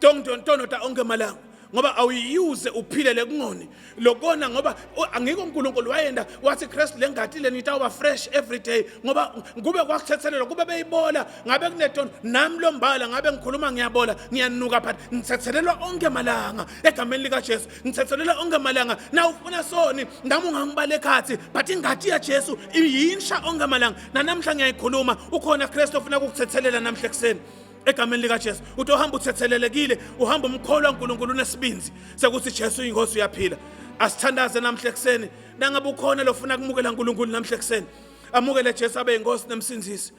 tontontonota onke malanga ngoba awuyiyuse uphilele kungoni lokona ngoba angiko uNkulunkulu wayenda wathi Christ lengadi leni itawuba fresh every day ngoba kube kwakuthethelelwa kube beyibola ngabe kunetona nami lombala ngabe ngikhuluma ngiyabola ngiyanuka but ngithethelelwa onke malanga egameni lika Jesu ngithethelelwa onke malanga na ufuna soni nami ungangibala ekhathi but ingadi ya Jesu iyinsha onke malanga nanamhla ngiyayikhuluma ukhona Christ ofuna ukukuthethelela namhla ekseni egameni likaJesu uthi uhamba uthethelelekile uhamba umkholwa uNkulunkulu unesibinzi sekuthi Jesu uyinkosi uyaphila asithandaze namhla ekseni nangabe ukhona lofuna kumukela uNkulunkulu namhla ekseni amukele Jesu abe inkosi nemsindisi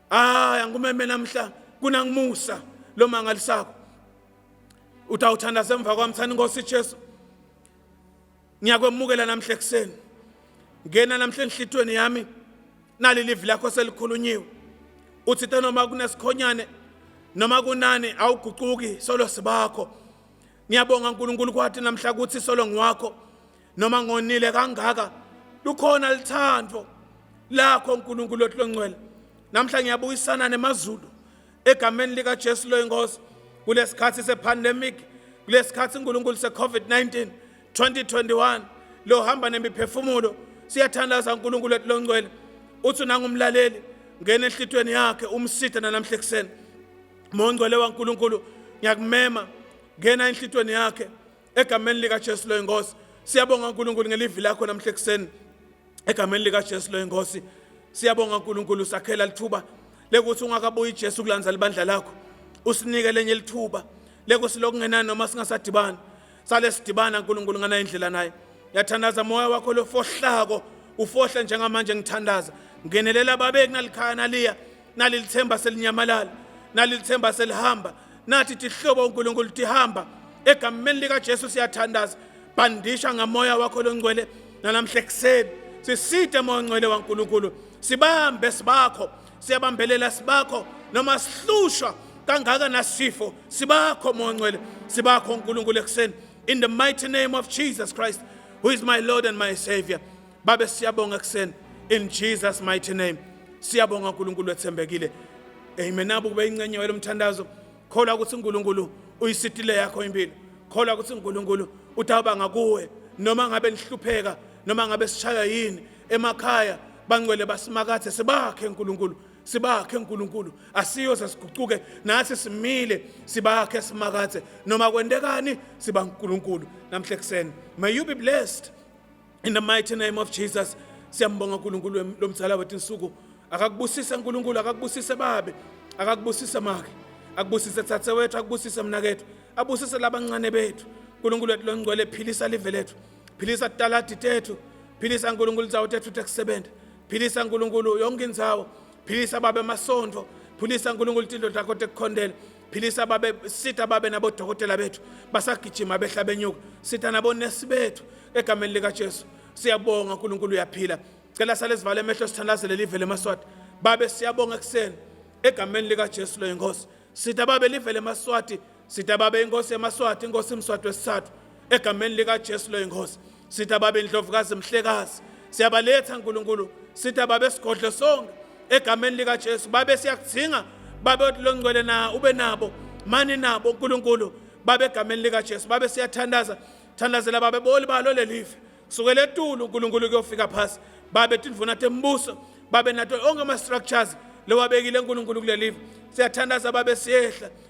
hayi angumeme namhla kunangimusa lo mangalisako utawuthandaza emva kwami thana inkosi Jesu ngiyakwemukela namhla ekuseni ngena namhla enhlitweni yami nali livi lakho selikhulunyiwe uthi te noma kunesikhonyane noma kunani awuguquki solo sibakho ngiyabonga uNkulunkulu kwathi namhla ukuthi solo ngiwakho noma ngonile kangaka lukhona lithando lakho uNkulunkulu ohlongcwele namhla ngiyabuyisana nemazulu egameni likaJesu loyinkosi kulesikhathi sepandemic kulesikhathi uNkulunkulu seCovid-19 2021 lo hamba nemiphefumulo siyathandaza uNkulunkulu wethu longcwele uthi nangumlaleli ngena enhlitweni yakhe umsithe nanamhla ekuseni mongcwele waNkulunkulu ngiyakumema ngena enhlitweni yakhe egameni likaJesu lo inkosi siyabonga uNkulunkulu ngelivi lakho namhla ekuseni egameni likaJesu lo inkosi siyabonga uNkulunkulu usakhela lithuba lekuthi ungakabuyi uJesu kulandza libandla lakho usinike lenye lithuba lekuthi lokungenani noma singasadibani sale sidibana uNkulunkulu ngana indlela naye yathandaza moya wakho lofohlako ufohle njengamanje ngithandaza ngenelela babe kunalikhaya naliya naleli themba selinyamalala naleli themba selihamba nathi tihlobo uNkulunkulu tihamba egameni lika Jesu siyathandaza bandisha ngamoya wakho longcwele nanamhle kuseni siside moya ongcwele waNkulunkulu sibambe sibakho siyabambelela sibakho noma sihlushwa kangaka nasifo sibakho moya ongcwele sibakho uNkulunkulu ekuseni in the mighty name of Jesus Christ who is my Lord and my Savior babe siyabonga ekuseni in Jesus mighty name siyabonga uNkulunkulu ethembekile amen nabu kube incenye welomthandazo kholwa ukuthi uNkulunkulu uyisitile yakho impilo kholwa ukuthi uNkulunkulu utawuba ngakuwe noma ngabe nihlupheka noma ngabe sishaya yini emakhaya bangcwele basimakathe sibakhe uNkulunkulu sibakhe uNkulunkulu asiyo sasiguquke nathi simile sibakhe simakathe noma kwentekani siba uNkulunkulu namhle kuseni may you be blessed in the mighty name of Jesus siyambonga uNkulunkulu lomzala wethu insuku akakubusisa uNkulunkulu akakubusise babe akakubusisa make akubusise thathe wethu akubusise mnakethu abusise labancane bethu uNkulunkulu wethu longcwele philisa live lethu philisa taladi tethu philisa uNkulunkulu inzawo tethu tekusebenza philisa uNkulunkulu yonke inzawo philisa babe masonto philisa uNkulunkulu tindlo takho tekukhondela philisa babe sitha babe nabodokotela bethu basagijima behla benyuka sitha nabonesi bethu egameni likaJesu siyabonga uNkulunkulu uyaphila cela sale sivale emehlo sithandazele live lemaswati babe siyabonga ekuseni egameni likaJesu lo inkosi sitha babe live lemaswati sitha babe inkosi yemaswati inkosi imswati wesithathu egameni likaJesu loyinkosi sithi ababe ndlovukazi mhlekazi siyabaletha nkulunkulu sithi ababe sigodlo sonke egameni likaJesu babe siyakudzinga babe uthi lo ngcwele na ube nabo mani nabo uNkulunkulu babe egameni likaJesu babe siyathandaza thandazela babe boli balo lelive kusukela etulu uNkulunkulu kuyofika phasi babe tindvuna tembuso babe nato onke ama structures lewabekile uNkulunkulu kulelive siyathandaza babe siyehla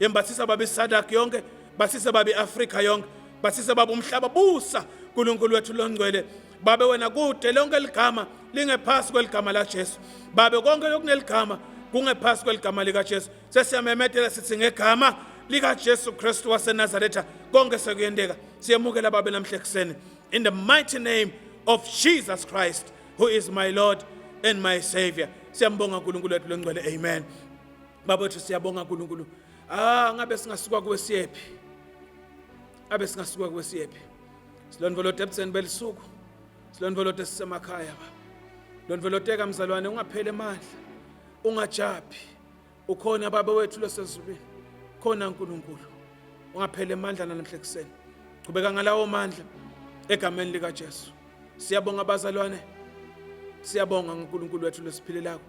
Yembathisa baba iSadak yonke, basise baba iAfrika yonke, basise baba umhlaba busa uNkulunkulu wethu longcwele. Babe wena kude lonke ligama lingephasi kweligama laJesu. Babe konke lokuneligama kungephasi kweligama likaJesu. Sesiyamemethela sithi ngegama likaJesu Kristu waseNazaretha konke sekuyendeka. Siyemukela babe namhle kuseni in the mighty name of Jesus Christ who is my Lord and my Savior. Siyambonga uNkulunkulu wethu longcwele. Amen. babethu siyabonga uNkulunkulu ah ngabe singasuka kwesiyephi abe singasuka kwesiyephi silondvolote ebutheni belisuku silondvolote sisemakhaya baba londvoloteka mzalwane ungapheli emandla ungajaphi ukhona baba wethu losezulwini khona uNkulunkulu ungapheli emandla namhla ekuseni qhubeka ngalawo mandla egameni lika Jesu siyabonga bazalwane siyabonga ngoNkulunkulu wethu lesiphilelako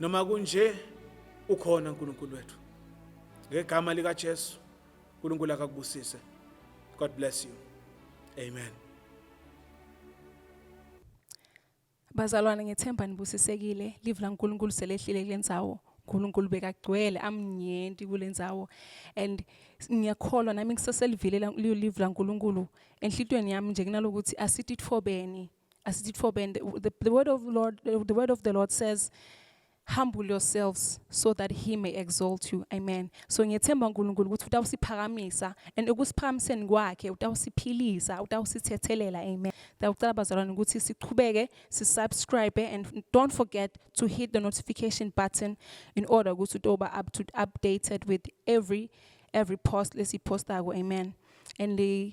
Noma kunje ukhona uNkulunkulu wethu. Ngegama lika Jesu uNkulunkulu akakubusise. God bless you. Amen. Bazalwane ngethemba nibusisekile live la uNkulunkulu selehlile kulenzawo uNkulunkulu bekagcwele amnyenti kulenzawo and ngiyakholwa nami ngiseselivile live la uNkulunkulu enhlitweni yami nje kunalokuthi asitithobeni As it did for Ben, the, the, the word of Lord, the word of the Lord says, humble yourselves so that he may exalt you amen so ngiyethemba uNkulunkulu ukuthi utawusiphakamisa and ukusiphakamiseni kwakhe utawusiphilisa utawusithethelela amen ngiyacela bazalwane ukuthi siqhubeke sisubscribe and don't forget to hit the notification button in order ukuthi utoba up to updated with every every post lesipostako amen and the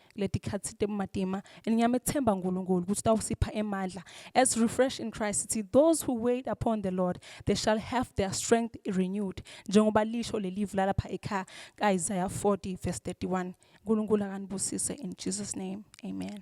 kuletikhatsi sitebumatima and ngiyamethemba uNkulunkulu ukuthi utawusipha emandla as refresh in Christ sithi those who wait upon the Lord they shall have their strength renewed njengoba lisho lelivu lalapha ekhaya kaIsaiah 40 verse 31 uNkulunkulu akanibusise in Jesus name amen